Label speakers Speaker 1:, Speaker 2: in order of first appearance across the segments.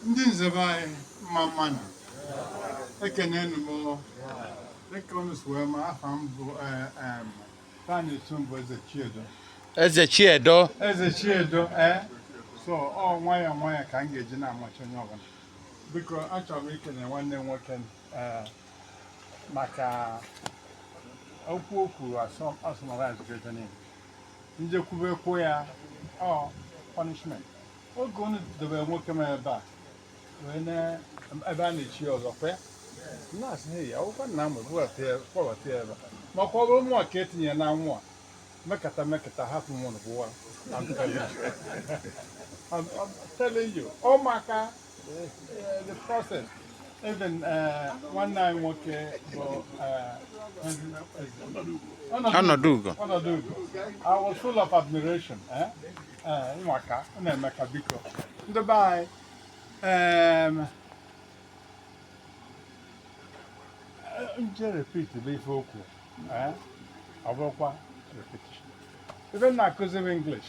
Speaker 1: ndị nze be anyị mma mmanụ ekenee m unu dịka unu si wee ma afa m bụ tani eh, tumbo eze chiedo eze chiedo eze chiedo ee eh? so ọ nwayọọ nwayọọ ka m ga-eji na-amacha onye ọbụla biko achọrọ m ikene nwanne m nwoke eh, maka okwu o kwuru asọmazgede niile m je-ekwube kwuo ya ọ punishment oge unu dobere nwoke m ebe a wee na ebe a na-echi ọzọ kwe na-asị ha ya akwụkwọ nna m kpọbata ya ebe maka ọ bụrụ mụ ka etinye na nwa mekata mekata hapụ mụnụ bụwa I'm telling you, ụmụaka even uh, nwanne anyị nwoke bụ uh, ọnọdụ ugo I was full of admiration eh? eh, ị ma ka ọ na-eme ka biko ndị be anyị um, eh, m je repeat bụ ife o kwu ọ bụrụkwa repetition ebe m na-akụzi m English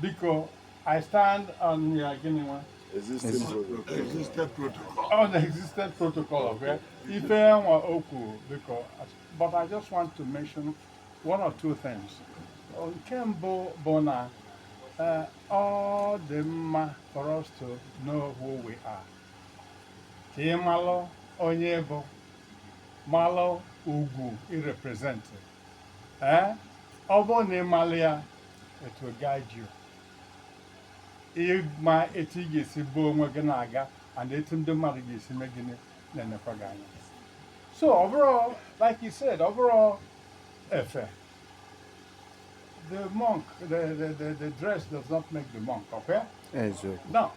Speaker 1: biko i stand on ya gịnị nwa Existing protocol. Existed protocol. on existing protocol of where ife nwa o kwu biko but i just want to mention one or two things nke mbụ bụ na eh, ọ dị mma for us to know who we are ka ị malụ onye ị bụ malụ ugwu i represent ee ọ bụrụ na ị malụ ya it will guide you ịma etu ị ga-esi bu onwe gị na-aga and etu ndị mmadụ ga-esi mee gịnị na-enekwa gị anya so ọ bụrọ like you said ọ bụrọ efe the monk the, the, the, the dress does not make the monk okay eziokwu now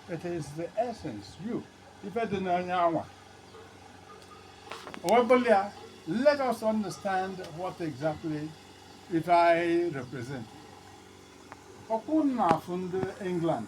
Speaker 1: it is the essence you ife dị n'onye anwa o wee bụlụ ya let us understand what exactly ife anyị represent ọkwa ị na-afụ ndị england